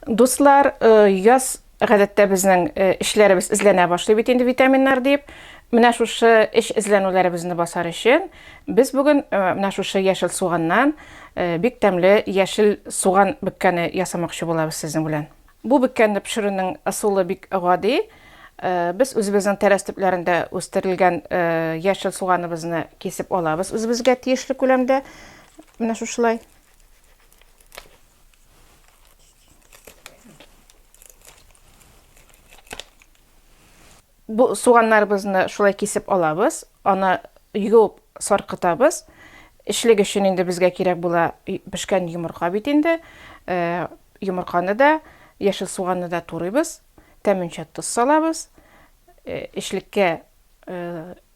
Дуслар, яз гадәттә безнең эчләребез эзләнә башлый бит инде витаминнар дип. Менә шушы эч эзләнүләребезне басар өчен без бүген менә шушы яшел суганнан бик тәмле яшел суган бөккәне ясамакчы булабыз сезнең белән. Бу бөккәнне пешерүнең ысулы бик гади. Без үзебезнең тәрәз төпләрендә үстерелгән яшел суганыбызны кисеп алабыз үзебезгә тиешле күләмдә. Менә шушылай. Бу суганнарыбызны шулай кисеп алабыз, аны юып саркытабыз. Эчлек өчен инде безгә кирәк була пешкән йомырка бит инде. Э, йомырканы да, яшел суганны да турыйбыз, тәменчә тоз салабыз. Э, эчлеккә э,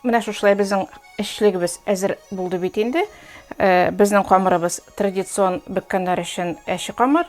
Менә шушылай безнең эшлегебез әзер булды бит инде. Э, безнең камырыбыз традицион беккәннәр өчен әче камыр,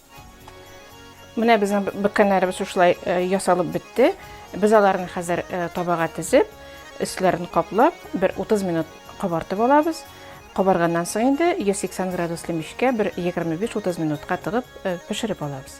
Менә безнең бөккәннәребез шушылай э, ясалып бетте. Без аларны хәзер э, табага тезеп, өсләрен каплап, бер 30 минут кабартып алабыз. Кабарганнан соң инде 180 градуслы мичкә бер 25-30 минутка тыгып э, пешереп алабыз.